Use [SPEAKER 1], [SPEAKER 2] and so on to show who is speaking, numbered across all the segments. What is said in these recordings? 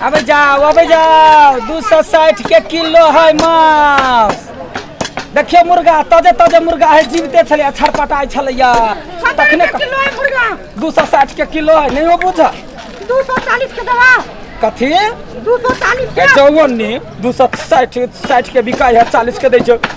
[SPEAKER 1] अब जाओ अब जाओ दू सौ साठ के किलो है मांस देखियो मुर्गा ताजे ताजे मुर्गा है जीवते छलै छटपटाइ छलैया तखने किलो है मुर्गा
[SPEAKER 2] दू सौ साठ के किलो
[SPEAKER 1] है नहीं बुझ दू सौ चालीस
[SPEAKER 2] के दवा कथी
[SPEAKER 1] दू सौ चालीस
[SPEAKER 2] के चौवन ने
[SPEAKER 1] दू सौ साठि साठि के बिकाइ है चालीस के दै छै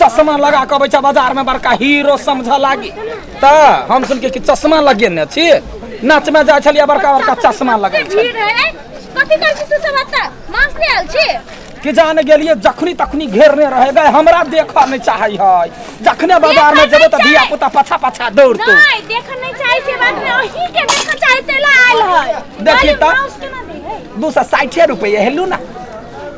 [SPEAKER 1] चश्मा लगा के अबै छै बाजार में बड़का हीरो समझ लागी त हम सुन के कि चश्मा लगेने छी नाच में जाय छलिए बड़का बड़का चश्मा लगै छै भीड़ है
[SPEAKER 3] कथी कर छी तू सब अत्ता मांस ले आल छी कि जाने गेलिए
[SPEAKER 1] जखनी तखनी घेरने रहे गए हमरा देख नहीं चाहे है जखने बाजार में जेबे त धिया पुता पछा पछा दौड़तो नहीं देख नहीं चाहे
[SPEAKER 3] से बात में ओही के देख चाहे तेला आयल है देखी त। उसके
[SPEAKER 1] ना दे है दू सौ साठे रुपये हेलू ना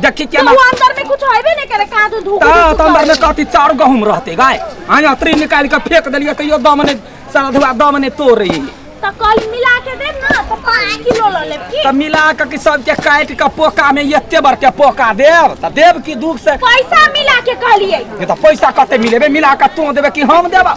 [SPEAKER 1] देखी क्या ना अंदर में कुछ होइबे
[SPEAKER 3] नहीं करे कहां तू धूप ता तो अंदर में कथी
[SPEAKER 1] चार गहूम रहते गाय हां अतरी निकाल के फेंक देलिए तैयो दम ने सारा धुआ दम ने तोड़ रही तो कल मिला के
[SPEAKER 3] दे ना तो 5 किलो ल ले ठीक तो मिला के कि सब के
[SPEAKER 1] काट के पोका में एते बर के पोका देब त देब की दुख से पैसा मिला के
[SPEAKER 3] कहलिए ये तो पैसा कते
[SPEAKER 1] मिलेबे मिला के तू देबे कि हम देबा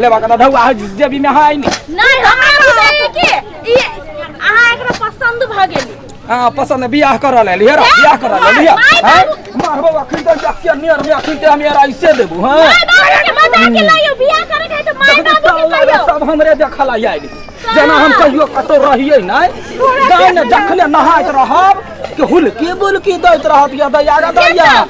[SPEAKER 1] ले बाका ढौ आ जेबी में हाय ने नहीं हमरा
[SPEAKER 3] बुझाइए कि ई अहाँ एकरा पसंद भ गेली हां पसंद है, बियाह
[SPEAKER 1] कर ले लिया बियाह कर ले लिया माय हां बाबू। मार बाबा खिन दे जाके नियर में खिन दे हम यार ऐसे देबू हां माय बाबू
[SPEAKER 3] के बता के लाइयो बियाह करे के तो माय बाबू के कहियो सब हमरे देखला
[SPEAKER 1] आइल जेना हम कहियो कतौ रहिए नै गाय ने जखने नहाइत रहब कि हुलकी बुलकी दैत रहब या दैया रे दैया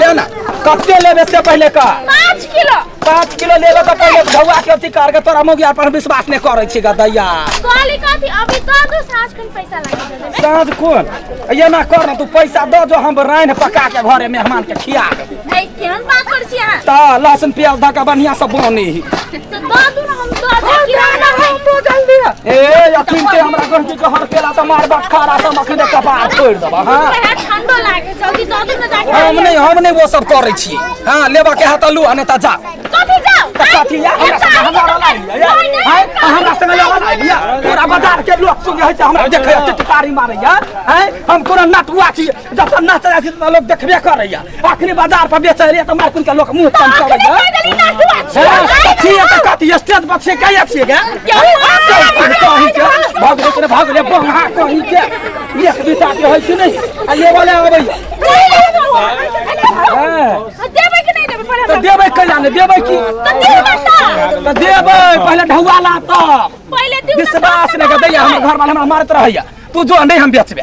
[SPEAKER 1] ले ना कते लेबे से पहले का पाँच किलो पाँच किलो लेबे के पहले धौआ के अथी करके तोरा मौगिया पर हम विश्वास नहीं करै छी गदैया कहली कथी
[SPEAKER 3] अभी दऽ दू साँझ खन पैसा लगा देबै
[SPEAKER 1] साँझ कोन एना कर ना तू पैसा दऽ जो हम राइन पका के घरे मेहमान के खिया देबौ। ऐ केहन बात करै
[SPEAKER 3] छी अहाँ तऽ लहसुन प्याज धऽ
[SPEAKER 1] के बढ़िया से बनी
[SPEAKER 3] तो दो दूं ना हम दो दूं
[SPEAKER 2] किराना है तो जल्दी है ए
[SPEAKER 1] अखिन ते हमरा घर के कहर केला त मार बा खारा त मखिन के कपार फोड़ देबा हां है ठंडो लागे
[SPEAKER 3] जल्दी दो दूं ना जाके हम नहीं हम नहीं वो सब
[SPEAKER 1] करै छी हां लेबा के हाथ लू अने त जा कथी जाओ त
[SPEAKER 3] कथी या हमरा संग
[SPEAKER 1] हमरा वाला लिया हां हमरा संग वाला वाला लिया पूरा बाजार के लोग सुन है हमरा देखे टिटकारी मारै या हां हम कोनो नटुआ छी जब नाच रहा छी त लोग देखबे करै या अखनी बाजार पर बेचे रे त मार कुन का लोग मुंह तन चले गे कहीं ना तू अच्छी हाँ, है। ठीक है तो कथी स्टेज पर से कहिए छिए गे क्यों? कहीं के भाग रे तोरे भाग रे बंगा कहीं के एक दू साथी होय कि नहीं आ ये वाला
[SPEAKER 3] आबै नहीं,
[SPEAKER 1] नहीं, तू। हां आ,
[SPEAKER 3] देबै
[SPEAKER 1] कि नहीं देबै पहिले
[SPEAKER 2] तो हमरा? देबै कहिया ने
[SPEAKER 1] देबै की तो देबै ता। तो देबै पहले ढौआला तब पहिले देबै ता,
[SPEAKER 3] विश्वास तब ने के दैया हमर
[SPEAKER 1] घर वाला हमरा मारत रहैया तू जो नहीं हम बेचबे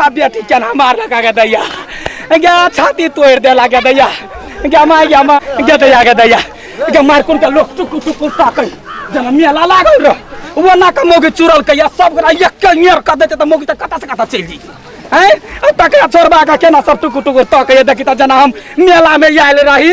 [SPEAKER 1] आ बेटी केना मारल का के दैया गे छाती तोड़ देला के दैया गे माय गे माँ गे दैया के दैया गे मार कुन के लोग टुकु टुकु ताकै जना मेला लागल रह वो ना के मोगी चुरल कैया सब गोरा एक के नियर कर देते त मोगी त कता से कता चल जी हैं तकरा छोड़बा के केना सब टुकु टुकु ताकै देखी त जना हम मेला में आयल रही